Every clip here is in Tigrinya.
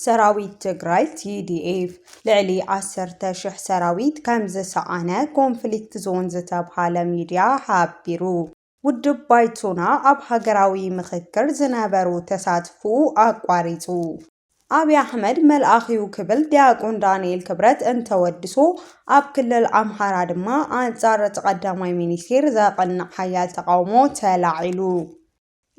ሰራዊት ትግራይ፣ TDF፣ ልዕሊ ዓሰርተ ሽሕ ሰራዊት ከምዝሰኣነ ኮንፍሊክት ዞን ዝተብሃለ ሚድያ ሓቢሩ። ውድብ ባይቶና ኣብ ሃገራዊ ምኽክር ዝነበሮ ተሳትፎኡ ኣቋሪፁ። ኣብይ ኣሕመድ መልኣኽ'ዩ ክብል ዲያቆን ዳንኤል ክብረት እንተወድሶ፣ ኣብ ክልል ኣምሓራ ድማ ኣንጻር እቲ ቀዳማይ ሚኒስቴር ዘቕንዕ ሓያል ተቓውሞ ተላዒሉ።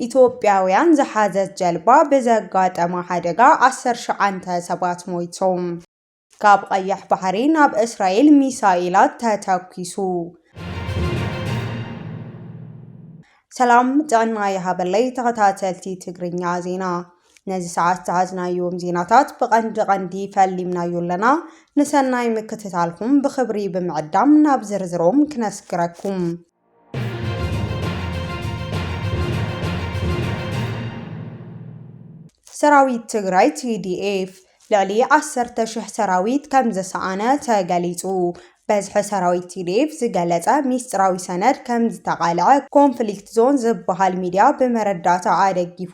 ኢትዮጵያውያን ዝሓዘት ጀልባ ብዘጋጠማ ሓደጋ ዓሰርተ ሸውዓተ ሰባት ሞይቶም። ካብ ቐይሕ ባሕሪ ናብ እስራኤል ሚሳኤላት ተተኲሱ። ሰላም ጥዕና ይሃበለይ ተኸታተልቲ ትግርኛ ዜና ነዚ ሰዓት ዝሓዝናዮም ዜናታት ብቐንዲ ቐንዲ ፈሊምናዮ ኣለና። ንሰናይ ምክትታልኩም ብኽብሪ ብምዕዳም ናብ ዝርዝሮም ክነስግረኩም። ሰራዊት ትግራይ፣ TDF፣ ልዕሊ ዓሰርተ ሽሕ ሰራዊት ከም ዝሰኣነ ተገሊጹ። በዝሒ ሰራዊት ቲዲኤፍ ዝገለጸ ሚስጥራዊ ሰነድ ከም ዝተቓልዐ ኮንፍሊክት ዞን ዝበሃል ሚድያ ብመረዳእታ ኣደጊፉ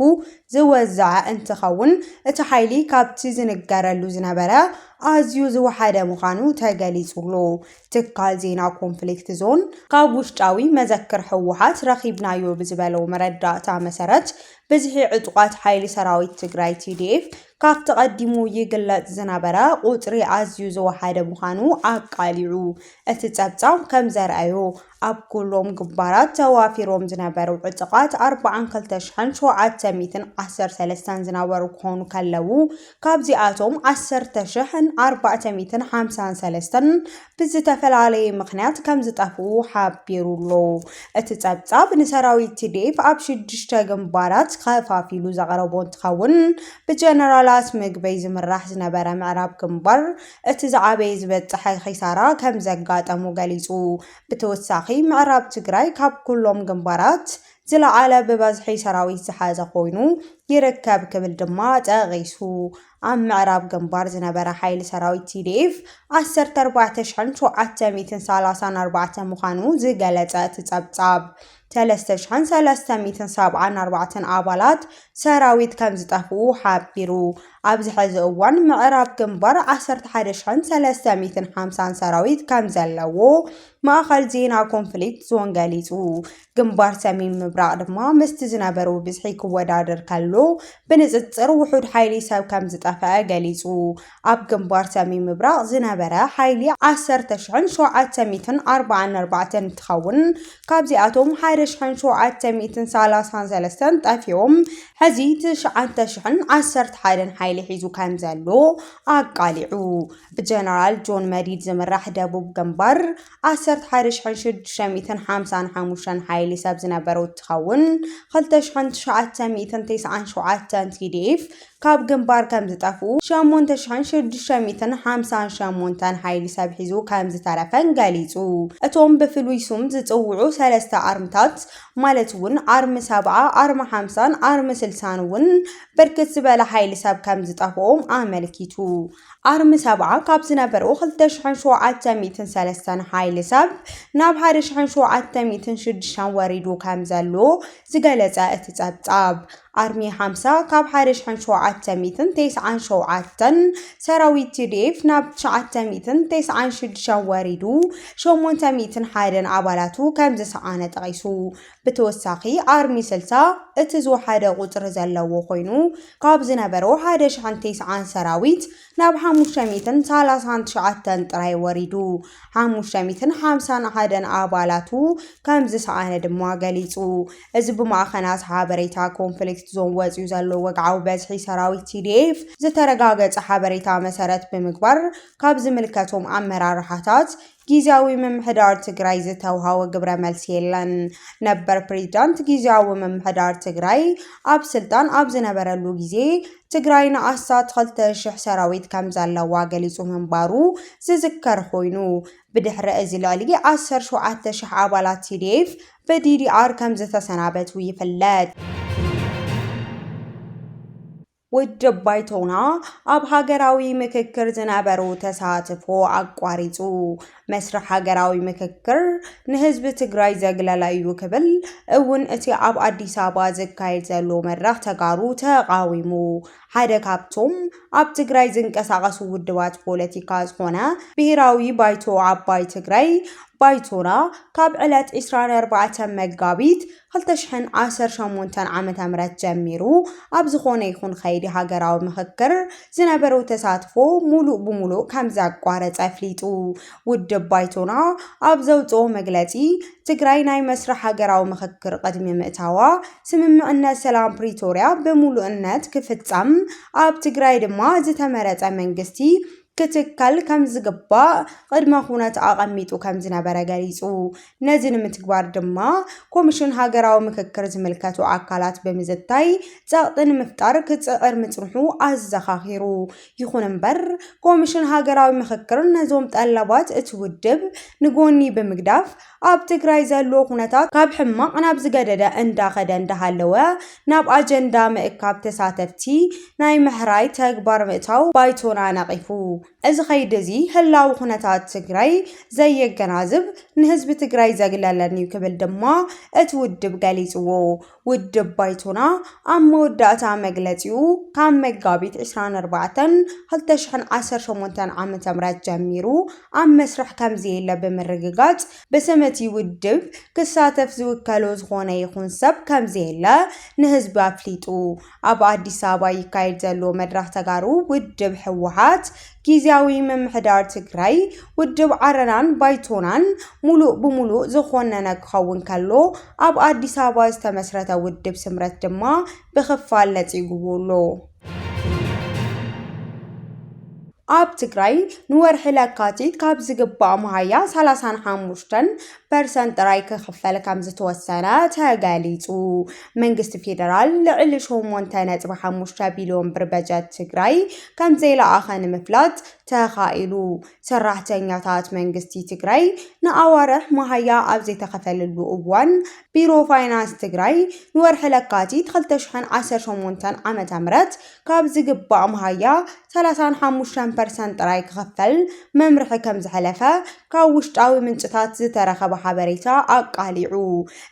ዝወዝዐ እንትኸውን እቲ ሓይሊ ካብቲ ዝንገረሉ ዝነበረ ኣዝዩ ዝወሓደ ምዃኑ ተገሊጹሉ። ትካል ዜና ኮንፍሊክት ዞን ካብ ውሽጣዊ መዘክር ህወሓት ረኺብናዮ ብዝበሎ መረዳእታ መሰረት ብዝሒ ዕጡቓት ሓይሊ ሰራዊት ትግራይ ቲዲኤፍ ካብቲ ቀዲሙ ይግለጽ ዝነበረ ቁጽሪ ኣዝዩ ዝወሓደ ምዃኑ ኣቃሊዑ። እቲ ጸብጻብ ከም ዘርኣዮ ኣብ ኩሎም ግንባራት ተዋፊሮም ዝነበሩ ዕጡቓት ኣርብዓን ክልተ ሽሕን ሸውዓተ ሚእትን ዓሰርተ ሰለስተን ዝነበሩ ክኾኑ ከለዉ ካብዚኣቶም ዓሰርተ ሽሕን ኣርባዕተ ሚእትን ሓምሳን ሰለስተን ብዝተፈላለየ ምኽንያት ከም ዝጠፍኡ ሓቢሩ ኣሎ። እቲ ጸብጻብ ንሰራዊት ቲዲኤፍ ኣብ ሽዱሽተ ግንባራት ከፋፊሉ ዘቕረቦ እንትኸውን ብጀነራላት ምግበይ ዝምራሕ ዝነበረ ምዕራብ ግንባር እቲ ዝዓበየ ዝበፀሐ ኺሳራ ከምዘጋጠሙ ገሊፁ። ብተወሳኺ ምዕራብ ትግራይ ካብ ኩሎም ግንባራት ዝለዓለ ብበዝሒ ሰራዊት ዝሓዘ ኮይኑ ይርከብ ክብል ድማ ጠቒሱ። ኣብ ምዕራብ ግንባር ዝነበረ ሓይሊ ሰራዊት TDF ዓሰርተ ኣርባዕተ ሽሕን ሸውዓተ ሚእትን ሰላሳን ኣርባዕተ ምዃኑ ዝገለፀ እቲ ፀብፃብ፣ ሰለስተ ሽሕን ሰለስተ ሚእትን ሰብዓን ኣርባዕተን ኣባላት ሰራዊት ከም ዝጠፍኡ ሓቢሩ። ኣብዚ ሕዚ እዋን ምዕራብ ግንባር ዓሰርተ ሓደ ሽሕን ሰለስተ ሚእትን ሓምሳን ሰራዊት ከም ዘለዎ ማእኸል ዜና ኮንፍሊክት ዞን ገሊፁ። ግንባር ሰሜን ምብራቕ ድማ ምስቲ ዝነበሩ ብዝሒ ክወዳደር ከሎ ብንፅፅር ውሑድ ሓይሊ ሰብ ከም ዝጠፈአ ገሊፁ። ኣብ ግንባር ሰሜን ምብራቕ ዝነበረ ሓይሊ ዓሰርተ ሽሕን ሸውዓተ ሚእትን ኣርብዓን ኣርባዕተን እንትኸውን ካብዚኣቶም ሓደ ሽሕን ሸውዓተ ሚእትን ሰላሳን ሰለስተን ጠፊኦም ሕዚ ትሽዓተ ሽሕን ዓሰርተ ሓደን ሓይሊ ሒዙ ከም ዘሎ ኣቃሊዑ። ብጀነራል ጆን መዲድ ዝምራሕ ደቡብ ግንባር ዓሰርተ ሓደ ሽሕን ሽዱሽተ ሚእትን ሓምሳን ሓሙሽተን ሓይሊ ሰብ ዝነበሩ እትኸውን፣ ክልተ ሽሕን ትሽዓተ ሚእትን ቴስዓን ሸውዓተን TDF ካብ ግንባር ከም ዝጠፍኡ፣ ሸሞንተ ሽሕን ሽዱሽተ ሚእትን ሓምሳን ሸሞንተን ሓይሊ ሰብ ሒዙ ከም ዝተረፈን ገሊጹ። እቶም ብፍሉይ ሱም ዝጽውዑ ሰለስተ ኣርምታት ማለት እውን ኣርሚ ሰብዓ፣ ኣርሚ ሓምሳን ኣርሚ ስልሳን እውን ብርክት ዝበለ ሓይሊ ሰብ ከም ዝጠፍኦም ኣመልኪቱ። ኣርሚ ሰብዓ ካብ ዝነበሩ ክልተ ሽሕን ሸውዓተ ሚእትን ሰለስተን ሓይሊ ሰብ ናብ ሓደ ሽሕን ሸውዓተ ሚእትን ሽዱሽተን ወሪዱ ከም ዘሎ ዝገለጸ እቲ ጸብጻብ፣ ኣርሚ ሓምሳ ካብ ሓደ ሽሕን ሸውዓተ ሚእትን ተስዓን ሸውዓተን ሰራዊት ቲዲኤፍ ናብ ትሽዓተ ሚእትን ተስዓን ሽዱሽተን ወሪዱ ሸሞንተ ሚእትን ሓደን ኣባላቱ ከም ዝሰኣነ ጠቒሱ። ብተወሳኺ ኣርሚ ስልሳ እቲ ዝወሓደ ቁፅሪ ዘለዎ ኮይኑ ካብ ዝነበሮ ሓደ ሽሕን ቴስዓን ሰራዊት ናብ ሓሙሽተ ሚእትን ሰላሳን ትሽዓተን ጥራይ ወሪዱ ሓሙሽተ ሚእትን ሓምሳን ሓደን ኣባላቱ ከም ዝሰኣነ ድማ ገሊፁ። እዚ ብማዕኸናት ሓበሬታ ኮንፍሊክት ዞን ወፂኡ ዘሎ ወግዓዊ በዝሒ ሰራዊት TDF ዝተረጋገፀ ሓበሬታ መሰረት ብምግባር ካብ ዝምልከቶም ኣመራርሓታት ጊዚያዊ ምምሕዳር ትግራይ ዝተውሃቦ ግብረ መልሲ የለን። ነበር ፕሬዚዳንት ጊዚያዊ ምምሕዳር ትግራይ ኣብ ስልጣን ኣብ ዝነበረሉ ጊዜ ትግራይ ንኣስታት ኽልተ ሽሕ ሰራዊት ከምዘለዋ ገሊፁ ምንባሩ ዝዝከር ኾይኑ ብድሕሪ እዚ ልዕሊ ዓሰርተ ሸውዓተ ሽሕ ኣባላት tdf ብddr ከምዝተሰናበቱ ይፍለጥ። ውድብ ባይቶና ኣብ ሃገራዊ ምክክር ዝነበሮ ተሳትፎ ኣቋሪፁ መስርሕ ሃገራዊ ምክክር ንህዝቢ ትግራይ ዘግለለ እዩ ክብል እውን እቲ ኣብ ኣዲስ ኣበባ ዝካየድ ዘሎ መድረኽ ተጋሩ ተቓዊሙ። ሓደ ካብቶም ኣብ ትግራይ ዝንቀሳቐሱ ውድባት ፖለቲካ ዝኾነ ብሄራዊ ባይቶ ዓባይ ትግራይ ባይቶና ካብ ዕለት 24 መጋቢት ክልተ ሽሕን ዓሰርተ ሸሞንተን ዓመተ ምህረት ጀሚሩ ኣብ ዝኾነ ይኹን ኸይዲ ሃገራዊ ምኽክር ዝነበሮ ተሳትፎ ሙሉእ ብሙሉእ ከምዘቋረፀ ኣፍሊጡ። ውድብ ባይቶና ኣብ ዘውፅኦ መግለፂ፣ ትግራይ ናይ መስርሕ ሃገራዊ ምኽክር ቕድሚ ምእታዋ ስምምዕነት ሰላም ፕሪቶርያ ብሙሉእነት ክፍፀም ኣብ ትግራይ ድማ ዝተመረፀ መንግስቲ ክትከል ከም ዝግባእ ቅድመ ኩነት ኣቐሚጡ ከም ዝነበረ ገሊጹ። ነዚ ንምትግባር ድማ ኮሚሽን ሃገራዊ ምክክር ዝምልከቱ ኣካላት ብምዝታይ ጸቕጢ ንምፍጣር ክጽዕር ምጽንሑ ኣዘኻኺሩ። ይኹን እምበር ኮሚሽን ሃገራዊ ምክክር ነዞም ጠለባት እቲ ውድብ ንጎኒ ብምግዳፍ ኣብ ትግራይ ዘሎ ኩነታት ካብ ሕማቕ ናብ ዝገደደ እንዳኸደ እንዳሃለወ ናብ ኣጀንዳ ምእካብ ተሳተፍቲ ናይ ምሕራይ ተግባር ምእታው ባይቶና ነቒፉ። እዚ ከይዲ እዚ ህላዊ ኩነታት ትግራይ ዘየገናዝብ፣ ንህዝቢ ትግራይ ዘግለለን'ዩ ክብል ድማ እቲ ውድብ ገሊፅዎ። ውድብ ባይቶና ኣብ መወዳእታ መግለጺኡ ካብ መጋቢት 24 2018 ዓ.ም ጀሚሩ ኣብ መስርሕ ከምዘየለ ብምርግጋጽ ብስም'ቲ ውድብ ክሳተፍ ዝውከሎ ዝኾነ ይኹን ሰብ ከምዘየለ ንህዝቢ ኣፍሊጡ። ኣብ ኣዲስ ኣበባ ይካየድ ዘሎ መድረኽ ተጋሩ ውድብ ህወሓት፣ ጊዚያዊ ምምሕዳር ትግራይ፣ ውድብ ዓረናን ባይቶናን ሙሉእ ብሙሉእ ዝኾነነ ክኸውን ከሎ ኣብ ኣዲስ ኣበባ ዝተመስረተ ውድብ ስምረት ድማ ብኽፋል ነፂጉዎ ኣሎ። ኣብ ትግራይ ንወርሒ ለካቲት ካብ ዝግባእ መሃያ ሰላሳን ሓሙሽተን ፐርሰንት ጥራይ ክኽፈል ከምዝተወሰነ ተገሊፁ። መንግስቲ ፌደራል ልዕሊ ሸሞንተ ነጥቢ ሓሙሽተ ቢልዮን ብር በጀት ትግራይ ከምዘይለኣኸ ንምፍላጥ ተኻኢሉ። ሰራሕተኛታት መንግስቲ ትግራይ ንኣዋርሕ መሃያ ኣብ ዘይተኸፈለሉ እዋን ቢሮ ፋይናንስ ትግራይ ንወርሒ ለካቲት ክልተ ሽሕን ዓሰርተ ሸሞንተን ዓ.ም ካብ ዝግባእ መሃያ ሰላሳን ሓሙሽተን ፐርሰንት ጥራይ ክኽፈል መምርሒ ከምዝሐለፈ ካብ ውሽጣዊ ምንጭታት ዝተረኸበ ሓበሬታ ኣቃሊዑ።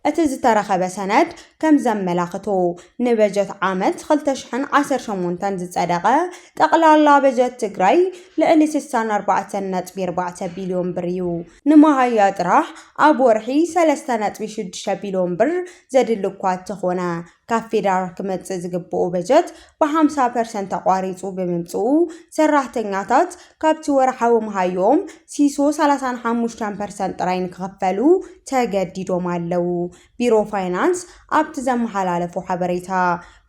እቲ ዝተረኸበ ሰነድ ከምዘመላኽቶ፣ ንበጀት ዓመት ክልተ ሽሕን ዓሰርተ ሸሞንተን ዝፀደቐ ጠቕላላ በጀት ትግራይ ልዕሊ ስሳን ኣርባዕተን ነጥቢ ኣርባዕተ ቢልዮን ብር ዩ። ንመሃያ ጥራሕ ኣብ ወርሒ ሰለስተ ነጥቢ ሽዱሽተ ቢልዮን ብር ዘድሊ እኳ እተኾነ፣ ካብ ፌዴራል ክመፅእ ዝግበኦ በጀት ብሓምሳ ፐርሰንት ተቋሪፁ ብምምፅኡ ሰራሕተኛታት ካብቲ ወርሓዊ መሃይኦም ሲሶ ሰላሳን ሓሙሽተን ፐርሰንት ጥራይ ንክኽፈሉ ተገዲዶም ኣለው ቢሮ ፋይናንስ ኣብቲ ዘመሓላለፎ ሓበሬታ።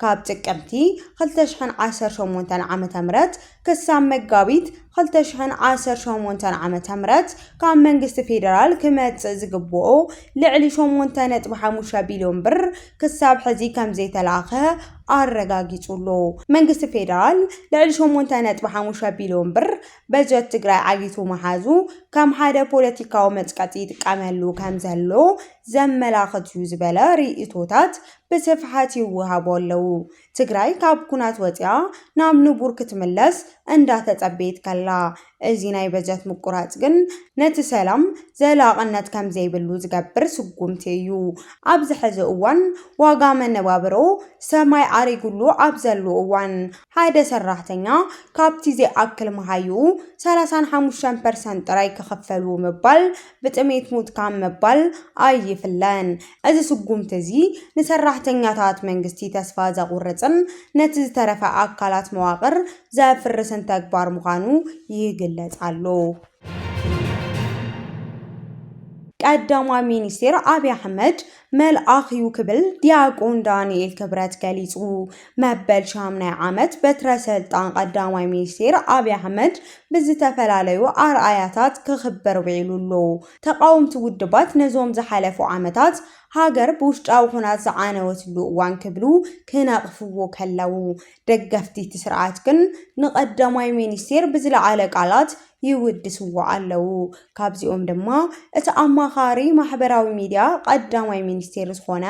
ካብ ጥቅምቲ ክልተ ሽሕን ዓሰርተ ሸሞንተን ዓመተ ምህረት ክሳብ መጋቢት ክልተ ሽሕን ዓሰርተ ሸሞንተን ዓመተ ምህረት ካብ መንግስቲ ፌደራል ክመፅእ ዝግብኦ ልዕሊ ሸሞንተ ነጥቢ ሓሙሽተ ቢልዮን ብር ክሳብ ሕዚ ከምዘይተላእከ ኣረጋጊፁ ኣሎ። መንግስቲ ፌደራል ልዕሊ ሸሞንተ ነጥቢ ሓሙሽተ ቢልዮን ብር በጀት ትግራይ ዓጊቱ ምሓዙ ከም ሓደ ፖለቲካዊ መፅቀጢ ይጥቀመሉ ከምዘሎ ዘመላኽት ዩ ዝበለ ሪኢቶታት ብስፍሓት ይወሃቡ ኣለው። ትግራይ ካብ ኩናት ወፂኣ ናብ ንቡር ክትምለስ እንዳተፀበየት ከላ እዚ ናይ በጀት ምቁራፅ ግን ነቲ ሰላም ዘላቕነት ከምዘይብሉ ዝገብር ስጉምቲ እዩ። ኣብዚ ሕዚ እዋን ዋጋ መነባብሮ ሰማይ ኣሪጉሉ ኣብ ዘሉ እዋን ሓደ ሰራሕተኛ ካብቲ ዘይኣክል መሃይኡ ሰላሳን ሓሙሽተን ፐርሰንት ጥራይ ክኽፈሉ ምባል ብጥሜት ሙትካ ምባል ኣይፍለን። እዚ ስጉምቲ እዚ ንሰራሕተኛታት መንግስቲ ተስፋ ዘቑርጽን ነቲ ዝተረፈ ኣካላት መዋቕር ዘፍርስን ተግባር ምዃኑ ይግለጽ ኣሎ። ቀዳማይ ሚኒስቴር ኣብይ ኣሕመድ መልኣኽ እዩ ክብል ዲያቆን ዳንኤል ክብረት ገሊጹ። መበል ሻምናይ ዓመት በትረ ሰልጣን ቀዳማይ ሚኒስቴር ኣብይ ኣሕመድ ብዝተፈላለዩ ኣርኣያታት ክኽበር ውዒሉ ኣሎ። ተቓወምቲ ውድባት ነዞም ዝሓለፉ ዓመታት ሃገር ብውሽጣዊ ኩናት ዝዓነወትሉ እዋን ክብሉ ክነቕፍዎ ከለዉ፣ ደገፍቲ እቲ ስርዓት ግን ንቀዳማይ ሚኒስቴር ብዝለዓለ ቃላት ይውድስዎ ኣለው። ካብዚኦም ድማ እቲ ኣማኻሪ ማሕበራዊ ሚዲያ ቀዳማይ ሚኒስቴር ዝኾነ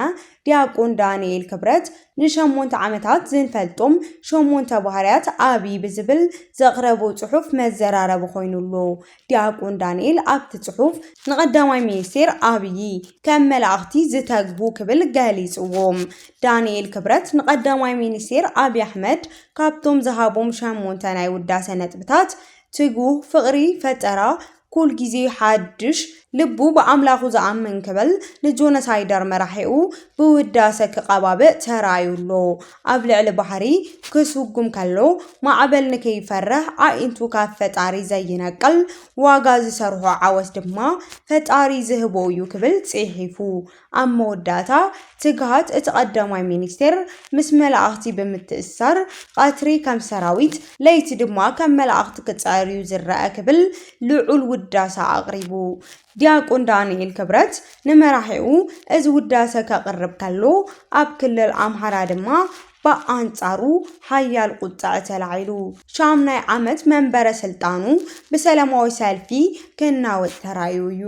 ዲያቆን ዳንኤል ክብረት ንሸሞንተ ዓመታት ዝንፈልጦም ሸሞንተ ባህርያት ኣብይ ብዝብል ዘቕረቦ ፅሑፍ መዘራረቢ ኮይኑ ኣሎ። ዲያቆን ዳንኤል ኣብቲ ጽሑፍ ንቀዳማይ ሚኒስቴር ኣብዪ ከም መላእኽቲ ዝተግሁ ክብል ገሊጽዎም። ዳንኤል ክብረት ንቀዳማይ ሚኒስቴር ኣብዪ ኣሕመድ ካብቶም ዝሃቦም ሸሞንተ ናይ ውዳሰ ነጥብታት ትጉህ፣ ፍቕሪ፣ ፈጠራ፣ ኩል ግዜ ሓድሽ፣ ልቡ ብኣምላኹ ዝኣምን ክብል ንጆነሳይደር መራሒኡ ብውዳሰ ክቐባብእ ተራእዩ ኣሎ። ኣብ ልዕሊ ባሕሪ ክስጉም ከሎ ማዕበል ንከይፈርሕ ኣዒንቱ ካብ ፈጣሪ ዘይነቅል፣ ዋጋ ዝሰርሖ ዓወት ድማ ፈጣሪ ዝህቦ እዩ ክብል ጽሒፉ። ኣብ መወዳእታ፣ ትግሃት እቲ ቀዳማይ ሚኒስቴር ምስ መላእኽቲ ብምትእስሳር ቐትሪ ከም ሰራዊት፣ ለይቲ ድማ ከም መላእኽቲ ክጽዕር እዩ ዝረኣ ክብል ልዑል ውዳሰ ኣቕሪቡ። ዲያቆን ዳንኤል ክብረት ንመራሒኡ እዚ ውዳሰ ከቕርብ ከሎ፣ ኣብ ክልል ኣምሓራ ድማ ብኣንጻሩ ሓያል ቁጠዐ ተላዒሉ፣ ሻምናይ ዓመት መንበረ ስልጣኑ ብሰለማዊ ሰልፊ ክናወጽ ተራእዩ እዩ።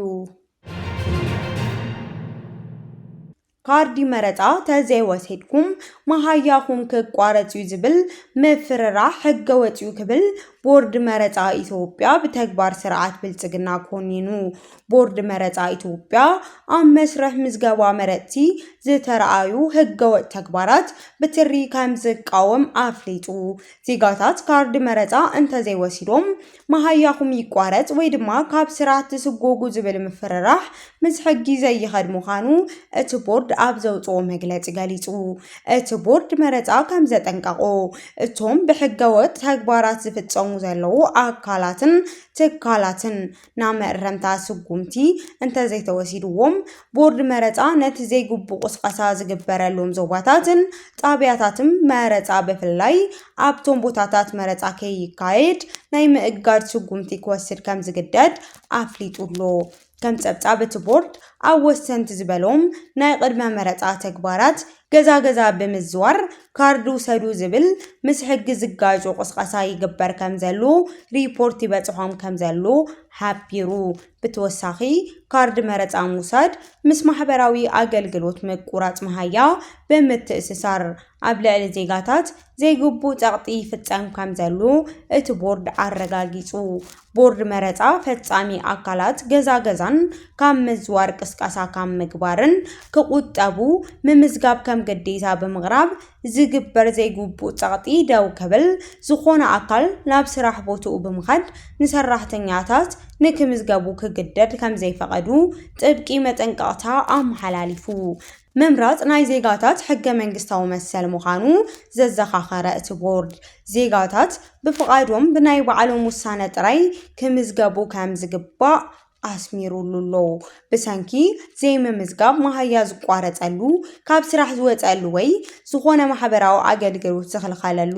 ካርዲ መረፃ ተዘይወሲድኩም መሃያኹም ክቋረፅ ዩ ዝብል ምፍርራሕ ሕገወፅ ዩ ክብል ቦርድ መረፃ ኢትዮጵያ ብተግባር ስርዓት ብልፅግና ኮኒኑ። ቦርድ መረፃ ኢትዮጵያ ኣብ መስርሕ ምዝገባ መረፅቲ ዝተርኣዩ ሕገወጥ ተግባራት ብትሪ ከምዝቃወም ኣፍሊጡ። ዜጋታት ካርዲ መረፃ እንተዘይወሲዶም መሃያኹም ይቋረጽ ወይ ድማ ካብ ስራሕ ትስጎጉ ዝብል ምፍርራሕ ምስ ሕጊ ዘይኸድ ምዃኑ እቲ ቦርድ ኣብ ዘውጽኦ መግለጺ ገሊጹ። እቲ ቦርድ መረጻ ከምዘጠንቀቖ፣ እቶም ብሕገወጥ ተግባራት ዝፍጸሙ ዘለዉ ኣካላትን ትካላትን ናብ መእረምታ ስጉምቲ እንተዘይተወሲድዎም፣ ቦርድ መረጻ ነቲ ዘይግቡእ ቁስቀሳ ዝግበረሎም ዞባታትን ጣብያታትን መረጻ ብፍላይ ኣብቶም ቦታታት መረፃ ከይካየድ ናይ ምእጋድ ስጉምቲ ክወስድ ከምዝግደድ ኣፍሊጡ'ሎ። ከም ፀብፃብ እቲ ቦርድ ኣብ ወሰንቲ ዝበሎም ናይ ቕድመ መረፃ ተግባራት ገዛ ገዛ ብምዝዋር ካርድ ውሰዱ ዝብል ምስ ሕጊ ዝጋጮ ቕስቐሳ ይግበር ከምዘሎ ሪፖርት ይበፅሖም ከምዘሎ ሓቢሩ። ብተወሳኺ ካርድ መረፃ ምውሳድ ምስ ማሕበራዊ ኣገልግሎት ምቁራፅ መሃያ ብምትእስሳር ኣብ ልዕሊ ዜጋታት ዘይግቡእ ፀቕጢ ይፍፀም ከምዘሎ እቲ ቦርድ ኣረጋጊፁ። ቦርድ መረፃ ፈፃሚ ኣካላት ገዛ ገዛን ካብ ምዝዋር ቅስቀሳ ካብ ምግባርን ክቑጠቡ ምምዝጋብ ከም ግዴታ ብምቕራብ ዝግበር ዘይግቡእ ጸቕጢ ደው ክብል፣ ዝኾነ ኣካል ናብ ስራሕ ቦትኡ ብምኻድ ንሰራሕተኛታት ንክምዝገቡ ክግደድ ከምዘይፈቐዱ ጥብቂ መጠንቀቕታ ኣመሓላሊፉ። ምምራጽ ናይ ዜጋታት ሕገ-መንግስታዊ መሰል ምዃኑ ዘዘኻኸረ እቲ ቦርድ፣ ዜጋታት ብፍቓዶም ብናይ ባዕሎም ውሳነ ጥራይ ክምዝገቡ ከምዝግባእ ኣስሚሩሉ'ሎ። ብሰንኪ ዘይምምዝጋብ መሃያ ዝቋረጸሉ፣ ካብ ስራሕ ዝወጸሉ ወይ ዝኾነ ማሕበራዊ ኣገልግሎት ዝኽልከለሉ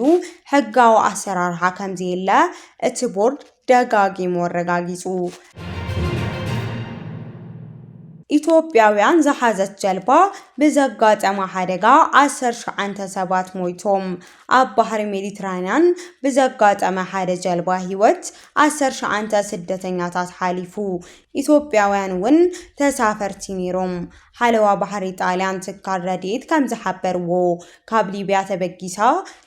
ሕጋዊ ኣሰራርሓ ከምዘየለ እቲ ቦርድ ደጋጊሙ ኣረጋጊጹ። ኢትዮጵያውያን ዝሓዘት ጀልባ ብዘጋጠማ ሓደጋ ዓሰርተ ሸውዓተ ሰባት ሞይቶም፣ ኣብ ባሕሪ ሜዲትራንያን ብዘጋጠመ ሓደ ጀልባ ህይወት ዓሰርተ ሸዓንተ ስደተኛታት ሓሊፉ። ኢትዮጵያውያን እውን ተሳፈርቲ ነይሮም። ሓለዋ ባሕሪ ጣልያን ትካል ረድኤት ከምዝሓበርዎ፣ ካብ ሊብያ ተበጊሳ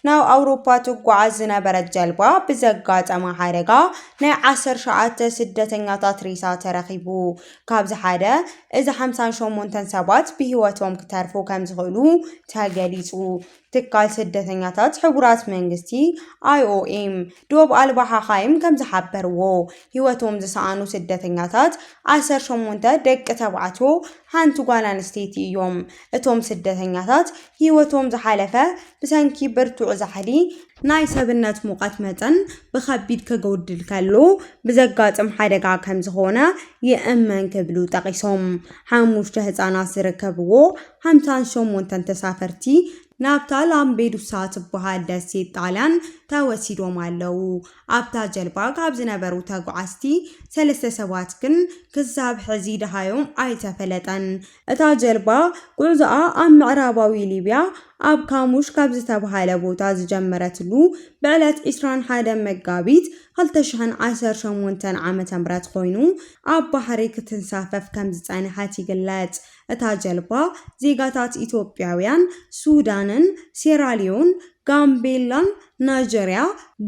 ናብ ኣውሮፓ ትጓዓዝ ዝነበረት ጀልባ ብዘጋጠማ ሓደጋ ናይ ዓሰርተ ሸዓተ ስደተኛታት ሬሳ ተረኺቡ። ካብዚ ሓደ እዚ ሓምሳን ሸሞንተን ሰባት ብህይወቶም ክተርፉ ከምዝኽእሉ ተገሊፁ። ትካል ስደተኛታት ሕቡራት መንግስቲ፣ IOM፣ ዶብ ኣልባ ሓኻይም ከም ዝሓበርዎ፣ ህይወቶም ዝሰኣኑ ስደተኛታት ዓሰርተ ሸሞንተ ደቂ ተባዕትዮ፣ ሓንቲ ጓል ኣንስተይቲ እዮም። እቶም ስደተኛታት ህይወቶም ዝሓለፈ ብሰንኪ ብርቱዕ ዛሕሊ፣ ናይ ሰብነት ሙቐት መጠን ብኸቢድ ክጎድል ከሎ ብዘጋጥም ሓደጋ ከም ዝኾነ ይእመን ክብሉ ጠቒሶም። ሓሙሽተ ህጻናት ዝርከብዎ ሓምሳን ሸሞንተን ተሳፈርቲ ናብታ ላምቤዱሳ ትበሃል ደሴት ጣልያን ተወሲዶም ኣለዉ። ኣብታ ጀልባ ካብ ዝነበሩ ተጓዓዝቲ ሰለስተ ሰባት ግን ክሳብ ሕዚ ደሃዮም ኣይተፈለጠን። እታ ጀልባ ጉዕዞኣ ኣብ ምዕራባዊ ሊብያ ኣብ ካሙሽ ካብ ዝተበሃለ ቦታ ዝጀመረትሉ ብዕለት ዕስራን ሓደን መጋቢት ክልተ ሽሕን ዓሰርተ ሸሞንተን ዓመተ ምህረት ኮይኑ ኣብ ባሕሪ ክትንሳፈፍ ከምዝጸንሐት ይግለጽ። እታ ጀልባ ዜጋታት ኢትዮጵያውያን፣ ሱዳንን፣ ሴራልዮን፣ ጋምቤላን፣ ናይጀርያ፣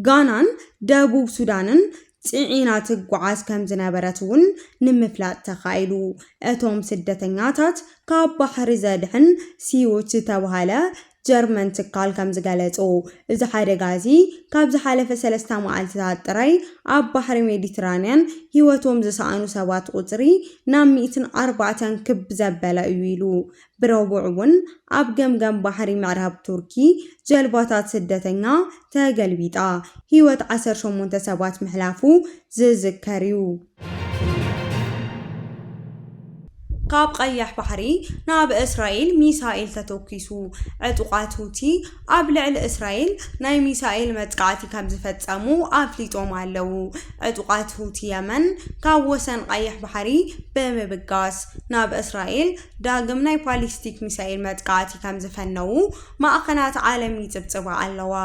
ጋናን ደቡብ ሱዳንን ጽዒና ትጓዓዝ ከምዝነበረት'ውን ንምፍላጥ ተኻኢሉ። እቶም ስደተኛታት ካብ ባሕሪ ዘድሕን ሲዩት ዝተባህለ ጀርመን ትካል ከምዝገለጾ፣ እዚ ሓደጋ እዚ ካብ ዝሓለፈ ሰለስተ መዓልቲታት ጥራይ ኣብ ባሕሪ ሜዲትራንያን ህይወቶም ዝሰኣኑ ሰባት ቁጽሪ ናብ ሚእትን ኣርባዕተን ክብ ዘበለ እዩ ኢሉ። ብረቡዕ እውን ኣብ ገምገም ባሕሪ ምዕራብ ቱርኪ ጀልባታት ስደተኛ ተገልቢጣ ህይወት ዓሰርተ ሸሞንተ ሰባት ምሕላፉ ዝዝከር እዩ። ካብ ቐይሕ ባሕሪ ናብ እስራኤል ሚሳኤል ተተኲሱ፣ ዕጡቓት ሁቲ ኣብ ልዕሊ እስራኤል ናይ ሚሳኤል መጥቃዕቲ ከምዝፈጸሙ ኣፍሊጦም ኣለዉ። ዕጡቓት ሁቲ የመን ካብ ወሰን ቐይሕ ባሕሪ ብምብጋስ ናብ እስራኤል ዳግም ናይ ባሊስቲክ ሚሳኤል መጥቃዕቲ ከምዝፈነዉ ማዕኸናት ዓለም ይጽብጽባ ኣለዋ።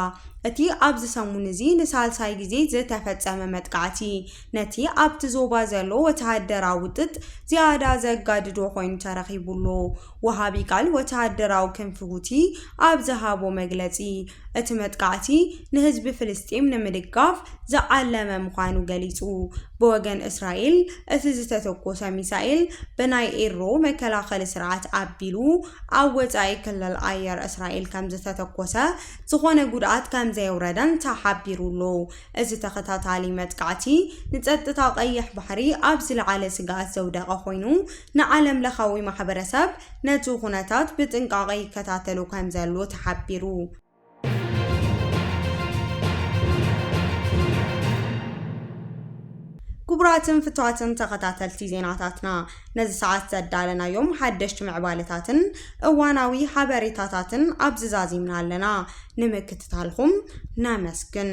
እቲ ኣብዚ ሰሙን እዚ ንሳልሳይ ግዜ ዝተፈጸመ መጥቃዕቲ፣ ነቲ ኣብቲ ዞባ ዘሎ ወተሃደራዊ ውጥጥ ዝያዳ ዘጋድዶ ኮይኑ ተረኺቡ ኣሎ። ወሃቢ ቃል ወተሃደራዊ ክንፊ ሁቲ ኣብ ዝሃቦ መግለጺ፣ እቲ መጥቃዕቲ ንህዝቢ ፍልስጤም ንምድጋፍ ዝዓለመ ምዃኑ ገሊጹ። ብወገን እስራኤል፣ እቲ ዝተተኮሰ ሚሳኤል ብናይ ኤሮ መከላኸሊ ስርዓት ኣቢሉ ኣብ ወጻኢ ክልል ኣየር እስራኤል ከምዝተተኮሰ፣ ዝኾነ ጉድኣት ከምዘየውረደን ተሓቢሩ ኣሎ። እዚ ተኸታታሊ መጥቃዕቲ ንጸጥታ ቀይሕ ባሕሪ ኣብ ዝለዓለ ስግኣት ዘውደቐ ኮይኑ፣ ንዓለምለኻዊ ማሕበረሰብ ነቲ ኩነታት ብጥንቃቐ ይከታተሎ ከምዘሎ ተሓቢሩ። ክቡራትን ፍቱዋትን ተኸታተልቲ ዜናታትና፣ ነዚ ሰዓት ዘዳለናዮም ሓደሽቲ ምዕባለታትን እዋናዊ ሓበሬታታትን ኣብዚ ዛዚምና ኣለና። ንምክትታልኹም ነመስግን።